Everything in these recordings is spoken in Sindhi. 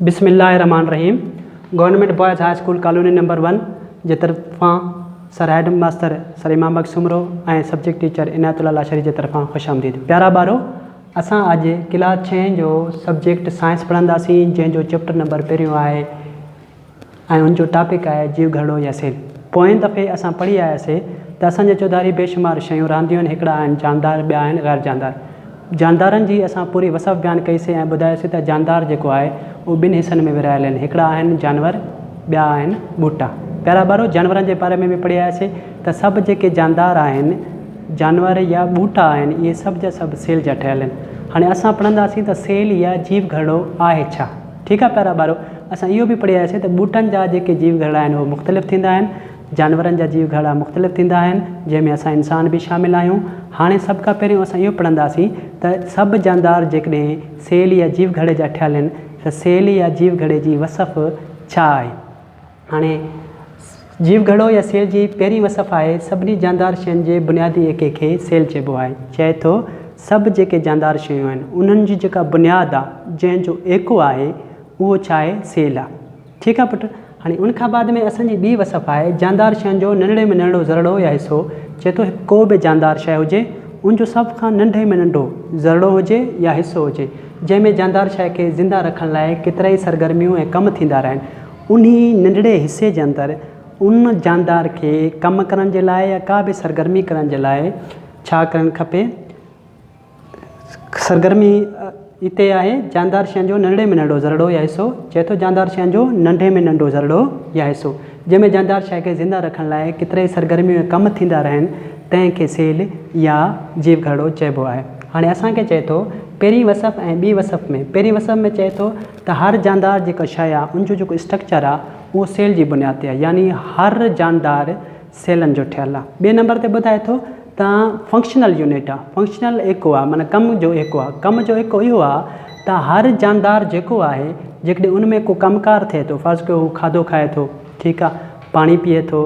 بسم الله الرحمٰن الرحيم government boys high school colony number one جي طرفان sir headmaster sir Imam Bakhsh Soomro ۽ subject teacher Inayat Ullah Lashari جي طرفان خوش آمديد پيارا ٻارو اسان اڄ ڪلاس ڇهين جو سبجيڪٽ سائنس پڙهنداسين جنهن جو چيپٽر نمبر پهريون آهي ۽ ان جو ٽاپڪ آهي جيو گهرڙو يا سيل. پوئين دفعي اسان پڙهي آياسي ته اسان جي چوڌاري بيشمار شيون رانديون آهن هڪڙا آهن جاندار ٻيا آهن غير جاندار. جاندارن جي اسان پوري وصف بيان ڪئي سي ۽ ٻڌايوسي ته جاندار جيڪو آهي اهو ٻن حصن ۾ ورهايل آهن هڪڙا آهن جانور ٻيا آهن ٻوٽا. پيارا ٻارو جانورن جي باري ۾ به پڙهي آياسي ته سڀ جيڪي جاندار آهن جانور يا ٻوٽا آهن اهي سڀ جا سڀ سيل جا ٺهيل آهن. هاڻي اسان پڙهنداسين ته سيل يا جيو گهرڙو آهي ڇا؟ ٺيڪ آهي پيارا ٻارو اسان اهو به پڙهي آياسي ته ٻوٽن جا جيڪي جيو گهرڙا آهن اهي مختلف ٿيندا آهن جانورن جا جيو گهرڙا مختلف ٿيندا آهن جنهن ۾ اسان انسان به شامل آهيون هاڻي سڀ کان پهريون اسان اهو پڙهنداسين ته سڀ جاندار جيڪڏهن سيل يا جيو گهرڙي جا ٺهيل آهن ته سيل يا جيو گهرڙي جي وصف ڇا آهي. هاڻي جيو گهڙو يا سيل جي پهرين وصف آهي سڀني جاندار شين جي بنيادي ايڪي کي سيل چئبو آهي. چئي ٿو سڀ جيڪي جاندار شيون آهن انهن جي جيڪا بنياد آ جنهن جو ايڪو آهي اهو ڇا آهي سيل آ. ٺيڪ آ پٽ. هاڻي ان کان بعد ۾ اسان جي ٻي وصف آهي جاندار شين جو ننڍڙي ۾ ننڍڙو ذرڙو يا حصو. چئي ٿو هڪ ڪو به جاندار شيء هجي ان جو سڀ کان ننڍي ۾ ننڍو ذرڙو هجي يا حصو هجي جنهن ۾ جاندار شيء کي زنده رکڻ لاء ڪيترائي سرگرميون ۽ ڪم ٿيندا رهن. انهي ننڍڙي حصي جي اندر ان جاندار کي ڪم ڪرڻ جي لاء يا ڪا به سرگرمي ڪرڻ جي لاء ڇا ڪرڻ کپي؟ سرگرمي اتي آهي جاندار شين جو ننڍڙي ۾ ننڍڙو ذرڙو يا حصو، چئي ٿو جاندار شين جو ننڍي ۾ ننڍڙو ذرڙو يا حصو، جنهن ۾ جاندار شيء کي زنده رکڻ لاء ڪيترائي سرگرميون يا ڪم ٿيندا رهن، تنهن کي سيل يا جيو گهرڙو چئبو آهي. هاڻي اسان کي چئي ٿو پهرين وصف ۽ ٻي وصف ۾، پهرين وصف ۾ چئي ٿو. ته هر جاندار جيڪا شيء آهي ان جو جيڪو اسٽرڪچر آهي اهو سيل جي بنياد تي آهي يعني هر جاندار سيلن جو ٺهيل آهي. ٻئي نمبر تي ٻڌائي ٿو ته فنڪشنل يونٽ آهي فنڪشنل ايڪو آهي معنيٰ ڪم جو ايڪو آهي ڪم جو ايڪو اهو آهي ته هر جاندار جيڪو آهي جيڪڏهن ان ۾ ڪو ڪم ڪار ٿئي ٿو فرض ڪيو هو کاڌو کائي ٿو ٺيڪ آهي پاڻي پيئي ٿو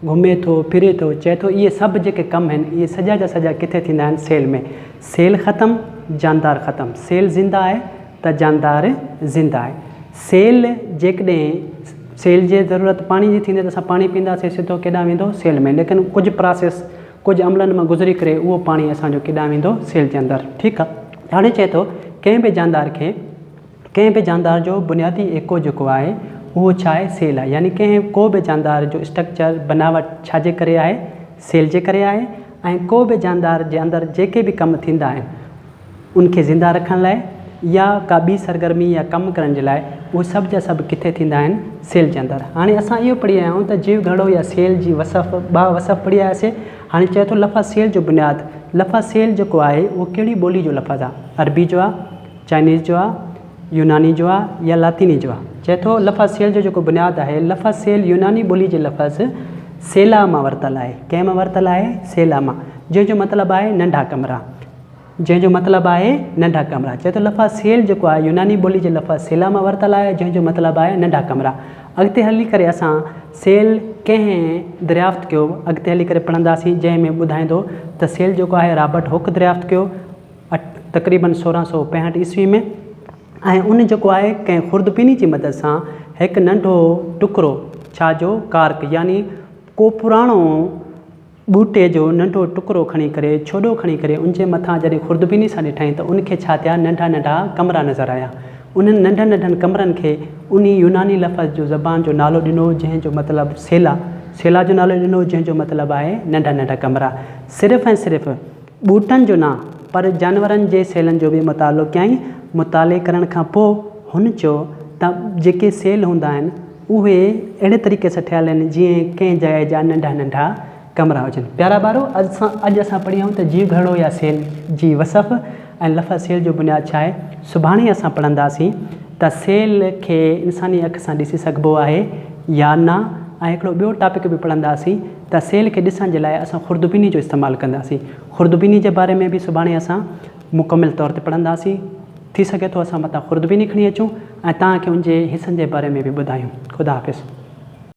گهمي ٿو ڦري ٿو چئي ٿو اهي سڀ جيڪي ڪم آهن اهي سڄا جا سڄا ڪٿي ٿيندا آهن سيل ۾ سيل ختم جاندار ختم سيل زنده آهي ته جاندار زنده آهي. سيل جيڪڏهن سيل جي ضرورت پاڻي جي ٿيندي ته اسان پاڻي پيئنداسين سڌو ڪيڏانهن ويندو سيل ۾ ليڪن ڪجهه پراسيس ڪجهه عملن مان گذري ڪري اهو پاڻي اسان جو ڪيڏانهن ويندو سيل جي اندر ٺيڪ آهي هاڻي چئي ٿو ڪنهن به جاندار کي ڪنهن به جاندار جو بنيادي ايڪو جيڪو آهي اهو ڇا آهي سيل آهي يعني ڪنهن ڪو به جاندار جو اسٽرڪچر بناوٽ ڇا جي ڪري آهي سيل جي ڪري آهي ۽ ڪو به جاندار جي اندر جيڪي به ڪم ٿيندا آهن ان کي زنده رکڻ لاء يا ڪا ٻي سرگرمي يا ڪم ڪرڻ جي لاء اهي سڀ جا سڀ ڪٿي ٿيندا آهن سيل جي اندر هاڻي اسان اهو پڙهي آيا آهيون ته جيو گهڙو يا سيل جي وصف ٻه وصف پڙهي آياسي هاڻي چئي ٿو لفظ سيل جو بنياد لفظ سيل جيڪو آهي اهو ڪهڙي ٻولي جو لفظ آهي عربي جو آهي چائنيز جو آهي يوناني جو آهي يا لاطيني جو آهي چئي ٿو لفظ سيل جو جيڪو بنياد آهي لفظ سيل يوناني ٻولي جي لفظ سيلا مان ورتل آهي ڪنهن مان ورتل آهي سيلا مان جنهن جو مطلب آهي ننڍا ڪمرا جنهن جو مطلب آهي ننڍا ڪمرا. چئي ٿو لفظ سيل جيڪو آهي يوناني ٻولي جي لفظ سيلا مان ورتل آهي جنهن جو مطلب آهي ننڍا ڪمرا. اڳتي هلي ڪري اسان سيل ڪنهن دريافت ڪيو اڳتي هلي ڪري پڙهنداسين جنهن ۾ ٻڌائيندو ته سيل جيڪو آهي رابرٽ هوڪ دريافت ڪيو تقريبن سورهن سؤ پنجهٺ عيسوي ۾ ۽ ان جيڪو آهي ڪنهن خوردبيني جي مدد سان هڪ ننڍو ٽڪرو ڇا جو ڪارڪ يعني ڪو پراڻو ٻوٽي جو ننڍو ٽڪرو کڻي ڪري، ڇوڏو کڻي ڪري، ان جي مٿان جڏهن خوردبيني سان ڏٺائين ته ان کي ڇا ٿيا ننڍا ننڍا ڪمرا نظر آيا. انهن ننڍن ننڍن ڪمرن کي انهي يوناني لفظ جو زبان جو نالو ڏنو جنهن جو مطلب سيلا، سيلا جو نالو ڏنو جنهن جو مطلب آهي ننڍا ننڍا ڪمرا. صرف ۽ صرف ٻوٽن جو نه پر جانورن جي سيلن جو به مطالعو ڪيائين. مطالعي ڪرڻ کان پوء هن چيو ته جيڪي سيل هوندا آهن اهي اهڙي طريقي سان ٺهيل آهن جيئن ڪنهن جاء جا ننڍا ننڍا ڪمرا هجن. پيارا ٻارو! اڄ اسان پڙهيائون ته جيو گهرڙو يا سيل جي وصف ۽ لفظ سيل جو بنياد ڇا آهي. سڀاڻي اسان پڙهنداسين ته سيل کي انساني اک سان ڏسي سگهبو آهي يا نه ۽ هڪڙو ٻيو ٽاپڪ به پڙهنداسين ته سيل کي ڏسڻ جي لاء اسان خوردبيني جو استعمال ڪنداسين. خوردبيني جي باري ۾ به سڀاڻي اسان مڪمل طور تي پڙهنداسين. ٿي سگهي ٿو اسان متان خوردبيني کڻي اچون ۽ توهان کي ان جي حصن جي باري ۾ به ٻڌايون. خدا حافظ.